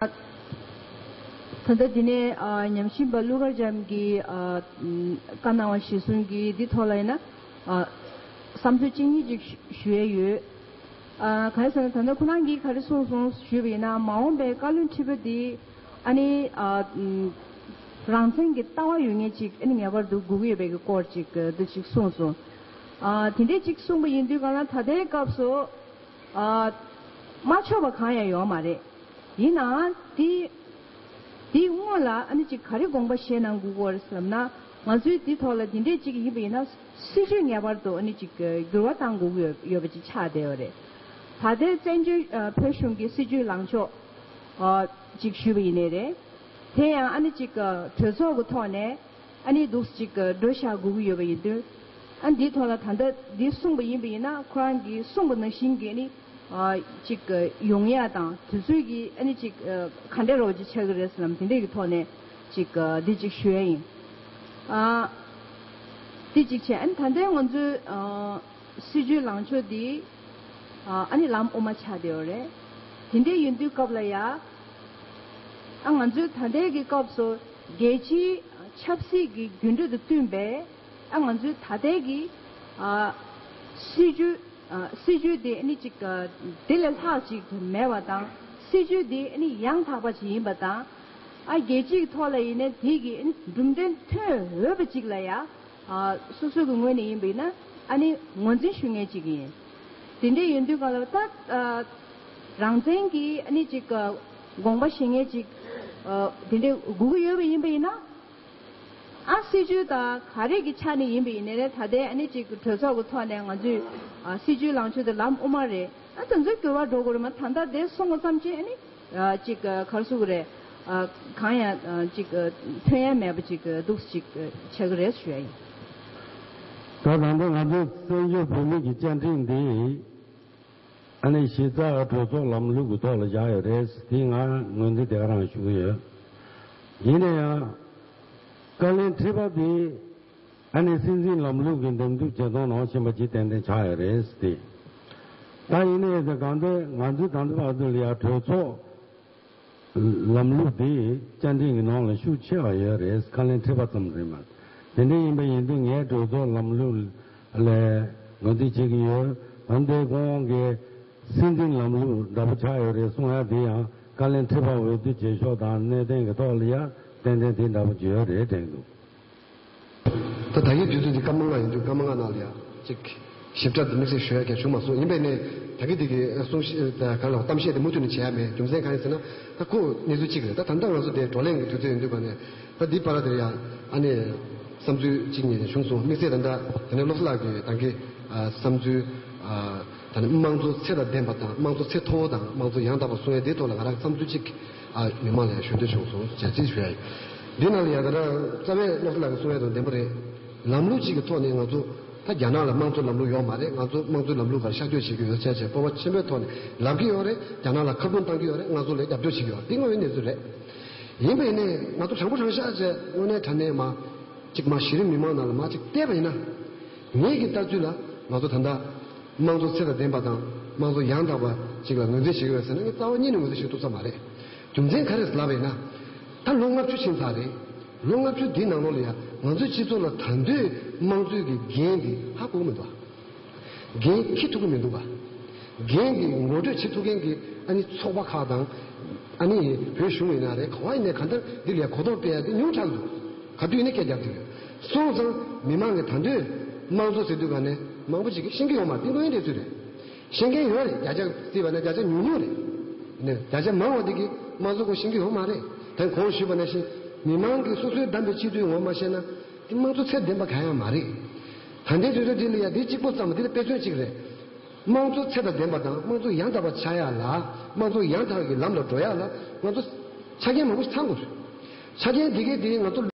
ད་ལྟ་འདི་ནས་ཉམས་ཞིབ་པ་ཀླུ་མཁར་བྱམས་ཀྱིས་བཀའ་གནང་བ་གཞིར་བཟུང་གིས་འདི་ཐོག་ལ་ཡིན་ན་བསམ་ཚུལ་གཅིག་གཉིས་ཅིག་ཞུ་ཡས་ཡོད། ག་རེ་ཟེར་ན་ད་ལྟ་ཁོ་རང་གིས་ག་རེ་གསུངས་སོང་ཞུས་པ་ཡིན་ན་མ་འོངས་པའི་བཀའ་བློན་ཁྲི་པ་འདི་ཨ་ནི་རང་བཙན་གྱི་ལྟ་བ་ཡོད་ངེས་ཅིག་ཨ་ནི་ངེས་པར་དུ་དགོས་ཀྱི་ཡོད་པའི་གི་སྐོར་ཅིག་འདི་ཅིག་གསུངས་སོང། དེ་འདྲས་ཅིག་གསུངས་པ་ཡིན་དུས་གང་ལ་ད་ལྟའི་སྐབས་སུ། མ་ཆོག་པ་གང་ཡང་ཡོད་མ་རེད། ཡིན་ནའང། དེ་དེའི་སྔོན་ལ་ཨ་ནེ་ཅིག་ག་རེ་དགོངས་པ་བཞེས་གནང་དགོས་སྐོར་བསམ་ན། ང་ཚོའི་དེ་ཐོག་ལ་དེ་འདྲས་ཅིག་ཡིན་པ་ཡིན་ན་སྲིད་ཇུས་ངེས་པར་དུ་ཨ་ནེ་ཅིག་འགྱུར་བ་བཏང་དགོས་ཀྱི་ཡོད་པ་ཅིག་ཆགས་བསྡད་པ་རེད། ད་ལྟའི་བཙན་བྱོལ་བོད་གཞུང་གི་སྲིད་ཇུས་ལངས་ཕྱོགས་ཅིག་ཞུས་པ་ཡིན་ནི་རེད། དེ་ཡང་ཨ་ནེ་ཅིག་གྲོས་ཚོགས་ཀྱི་ཐོག་ནས། ཨ་ནི་སྡུག་ཅིག་གི་སྒྲོས་བཞག་དགོས་ཀྱི་ཡོད་པ་ཡིན་དུས། ཨ་འདིའི་ཐོག་ལ་ད་ལྟ་འདི་གསུངས་པ་ཡིན་པ་ཡིན་ན་ཁོ་རང་གིས་གསུངས་པ་ནང་བཞིན་གྱི་ནི། ཅིག་ཡོང་ཡ་དང་དུས་ཚོད་ཀྱིས་ཨ་ནི་ཅིག་ག་འདྲས་རོགས་ཅིག་ཆགས་ཀྱི་རེད་ཟེར་ལམ་དེ་འདྲས་ཀྱི་ཐོག་ནས་ཅིག་འདི་ཅིག་ཞུ་ཡ་ཡིན། དེ་ཅིག་བྱས་ཨ་ནི་ད་ལྟའི་ང་ཚོའི་སྲིད་བྱུས་ལངས་ཕྱོགས་འདི། ཨ་ནི་ལམ་དབུ་མ་ཆགས་བསྡད་ཡོད་རེད། དེ་འདྲས་ཡིན་དུས་སྐབས་ལ་ཡ། ཨ་ང་ཚོའི་ད་ལྟའི་གི་སྐབས་སུ། རྒྱལ་སྤྱིའི་ཆབ་སྲིད་ཀྱི་འགྱུར་འགྲོས་དང་བསྟུན་པས་ང་ཚོའི་ད་ལྟའི་གི་སྲིད་ཇུས་སྲིད་ཇུས་དེ་ནི་ཅིག་དེ་ལས་ལྷག་ཅིག་དུ་མེད་པ་དང་སྲིད་ཇུས་དེ་ནི་ཡང་དག་པ་ཅིག་ཡིན་པ་དང། རྒྱལ་སྤྱིའི་གི་ཐོག་ལ་ཡིན་ན་དེ་གི་གྲུབ་འབྲས་ཐོན་འོས་པ་ཅིག་ལ་ཡང་སོ་སོ་གི་ངོས་ནས་ཡིན་པ་ཡིན་ན་ནི་ངོས་འཛིན་ཞུ་ངེས་ཅིག་ཡིན། དེ་འདྲའི་ཡོད་དུས་གང་ལ་ད་རང་བཙན་གྱི་ནི་ཅིག། དགོངས་པ་ཞེ་ངེས་ཅིག། དེ་འདྲའི་སྒུག་གི་ཡོད་པ་ཡིན་པ་ཡིན་ན། ཨ་སྲིད་ཇུས་དང་ག་རེ་གི་ཆ་ནས་ཡིན་པ་ཡིན་ནའི་ད་ལྟའི་ཨ་ནི་ཅིག་གྲོས་ཚོགས་ཀྱི་ཐོག་ནས་ང་ཚོའི་སྲིད་ཇུས་ལངས་ཕྱོད་དེ་ལམ་དབུ་མ་རེད་ཨ་ད་ཚོ་འགྱུར་བ་འགྲོ་དགོས་རེད་མ་ད་ལྟ་དེ་སོང་བ་ཙམ་གྱིས་ཨ་ནི་ཅིག་གར་སུ་གི་རེད། གང་ཡང་ཅིག་ཐོན་ཡ་མེད་པ་ཅིག་འདུག་སེ་ཅིག་བྱེད་གི་རེད་ཞུ་ཡ་ཡིན། ད་ད་ལྟ་ང་ཚོའི་བཙན་བྱོལ་བོད་མིག་གི་བཅའ་འཁྲིད་འདི། ཨ་ནི་གཞི་རྩ་གྲོས་ཚོགས་ལམ་ལུགས་ཀྱི་ཐོག་ལ་བཞག་ཡོད་རེད་དེའི་ང་ངོས་འཛིན་དེ་ག་རང་ཞུ་གི་ཡོད། ཡིན་ན་ཡང། བཀའ་ལན་དྲིས་པ་དེས་ཨ་ནི་སྲིད་འཛིན་ལམ་ལུགས་ཀྱི་འདེམས་སྒྲུག་བྱེད་སྟངས་ནང་ཕྱིན་པ་ཇི་ཏན་ཏན་ཆགས་ཡོད་རེད་དེ། ད་ཡིན་ན་ཡིན་ཟེར་གང་ལྟར་ང་ཚོའི་དམ་འཛིན་པ་ཚོ་ལ་ཡང་གྲོས་ཚོགས་ལམ་ལུགས་འདི་བསྐྱར་འགྲན་གྱི་ནང་ལ་ཤུགས་ཆེ་བ་ཡོད་རེད་ཁ་ལེན་ཁྲིད་པ་ཙམ་རེད་མ་དེ་འདྲ་ཡིན་པ་ཡིན་དུས་ངས་གྲོས་ཚོགས་ལམ་ལུགས་ལས་ངོས་འཛིན་བྱེད་ཀྱི་ཡོད་འོན་ཏེ་ཁོང་དབང་གིས་སྲིད་འཛིན་ལམ་ལུགས་འདྲ་པོ་ཆགས་ཡོད་རེད་གསུང་ཡ་དེ་ཡང་ཁ་ལེན་ཁྲིད་པ་འོས་བསྡུ་བྱེད་ཕྱོགས་དང་གནད་དོན་གྱི་ཐོག་ལ་ཡ་གཏན་གཏན་དེ་འདྲ་པོ་བརྗོད་ཡོད་རེད་དྲན་འདུག། ད་ད་ཡིག་བསྡུས་དོན་འདི་སྐར་མ་ལྔ་ཡིན་དུས་སྐར་མ་ལྔ་ནང་ལ་ཡང། གཅིག། ཞིབ་ཕྲ་དུ་དམིགས་བསལ་ཞུ་ཡ་གལ་བྱུང་མ་སོང་ཡིན་པས་ནས་ད་གི་འདི་གི་གསུང་བཤད་གང་ལ་གཏམ་བཤད་དེ་མུ་མཐུད་ནས་བྱེད་ཡ་མེད་རྒྱུ་མཚན་གང་ཡིན་ཟེར་ན། ད་ཁོ་གནས་ཚུལ་གཅིག་རེད་ད་ད་ལྟ་ང་ཚོ་དེ་བགྲོ་གླེང་གི་དུས་ཚོད་ཡིན་དུས་པ་ནས། ད་འདི་པར་དེར་ཡང་ཨ་ནེ། བསམ་ཚུལ་གཅིག་གཉིས་བྱུང་སོང་དམིགས་བསལ་ད་ད་ནས་བློ་བཟླ་གི་ད་གི། བསམ་ཚུལ། ད་ནི་དམངས་གཙོ་ཚད་ལ་ལྡན་པ་དང་དམངས་གཙོ་ཚད་མཐོ་བོ་དང་དམངས་གཙོ་ཡང་དག་པ་སྲུང་ཡ་དེའི་ཐོག་ལ་ང་རང་བསམ་ཚུལ་གཅིག། མི་མང་ལ་ཡང་ཞུ་འདོད་བྱུང་སོང་ཟེར་རྩིས་ཞུ་ཡ་ཡིན། འདི་རྣམས་ལ་ཡང་ད་དྲང་རྩ་བའི་སློབ་གྲྭ་ལ་གསུང་ཡ་དང་བདེན་པོ་རེད། ལམ་ལུགས་གཅིག་གི་ཐོག་ནས་ང་ཚོ། ད་རྒྱ་ནག་ལ་དམངས་གཙོ་ལམ་ལུགས་ཡོག་མ་རེད་ང་ཚོ་དམངས་གཙོའི་ལམ་ལུགས་གར་ཤར་སྐྱོད་བྱེད་ཀྱི་ཡོད་ཚད་བྱས་སྤོབས་པ་ཆེན་པོའི་ཐོག་ནས་ལབ་ཀྱི་ཡོག་རེད་རྒྱ་ནག་ལ་ཁ་རྡུང་གཏང་གི་ཡོག་རེད་ང་ཚོ་ལས་རྒྱབ་སྐྱོར་བྱེད་ཀྱི་ཡོག་རེད་འདི་དངོས་ཡོད་གནས་ཚུལ་རེད། ཡིན་པས་ནས་ང་ཚོ་དྲང་པོ་དྲང་ཤག་བྱས་དངོས་གནས་དྲ་གནས་མ། གཅིག་མ་གཞི་རིམ་མི་མང་ནང་ལ་མ་གཅིག་བལྟས་པ་ཡིན་ན། ངེད་ཀྱི་ལྟ་ཚུལ་ལ་ང་ཚོ་ད་ལྟ། དམངས་གཙོ་ཚད་དང་ལྡན་པ་དང་དམངས་གཙོ་ཡང་དག་པ་ཞིག་ལ་ངོས་འཛིན་བྱེད་ཀྱི་རེད་ཟེར་ན་ངས་རྩ་བ་ཉིད་ནས་ངོས་འཛིན་བྱེད་ཐུབ་ས་མ་རེད། རྒྱུ་མཚན་ག་རེས་ལབ་པས་ན། ད་ལོ་ལྔ་བཅུ་ཕྱིན་ཚར་རེད། ལོ་ལྔ་བཅུ་འདིའི་ནང་ལོགས་ལ་ཡང་ང་ཚོའི་སྤྱི་ཚོགས་ལ་ད་འདོད་དམངས་གཙོའི་གི་འགན་འདི་ཧ་གོ་གི་མི་འདུག་ག། འགན་འཁྱེར་ཐུབ་ཀྱི་མི་འདུག་ག། འགན་འདི་ངོ་སྤྲོད་བྱེད་ཐུབ་མཁན་གྱི་ཨ་ནི་ཚོགས་པ་ཁག་དང། ཨ་ནི་བོད་གཞུང་ཡིན་ན་རེད་ག། ཡིན་ནའི་ག་འདིར་འདི་ལས་གོ་རྟོགས་སྤེལ་ཡ་དེ་ཉུང་དྲགས་འདུག་ག་དུས་ནས་སྐད་རྒྱབ་ཀྱི་ཡོད། སོང་ཙང་མི་མང་གི་དང་དུས་དམངས་གཙོ་ཟེར་དུས་ག་ནས་མང་པོ་ཞིག་གིས་ཤེས་ཀྱི་ཡོང་མ་རྟིང་དོན་དེ་ཚོད་རེད། ཤེས་མཁན་ཡོད་རེད་བརྒྱ་ཆ་བརྩིས་པ་ན་བརྒྱ་ཆ་ཉུང་ཉུང་རེད། ནས་བརྒྱ་ཆ་མང་བ་དེ་གིས་དམངས་གཙོ་སྐོར་ཤེས་ཀྱི་ཡོང་མ་རེད་དེ་གོང་ཞུས་པ་ན་བཞིན་མི་མང་གིས་སོ་སོའི་བདམས་པའི་སྤྱི་འཐུས་ངོ་མ་ཤེས་ན། དམངས་གཙོ་ཚད་ལྡན་པ་ག་ཡང་མ་རེད། ད་འདི་ཚོད་ཚོད་འདི་ལ་ཡང་འདི་གཅིག་པོ་ཙམ་འདི་ལ་དཔེ་མཚོན་གཅིག་རེད། དམངས་གཙོ་ཚད་ལྡན་པ་དང་དམངས་གཙོ་ཡང་དག་པ་ཆགས་ཡག་ལ་དམངས་གཙོ་ཡང་དག་གི་ལམ་ལ་འགྲོ་ཡག་ལ་ང་ཚོ་ཆ་རྐྱེན་མང་པོ་ཞིག་ཚང་དགོས་རེད། ཆ་རྐྱེན་དེ་གའི་དེའི་ང་ཚོ།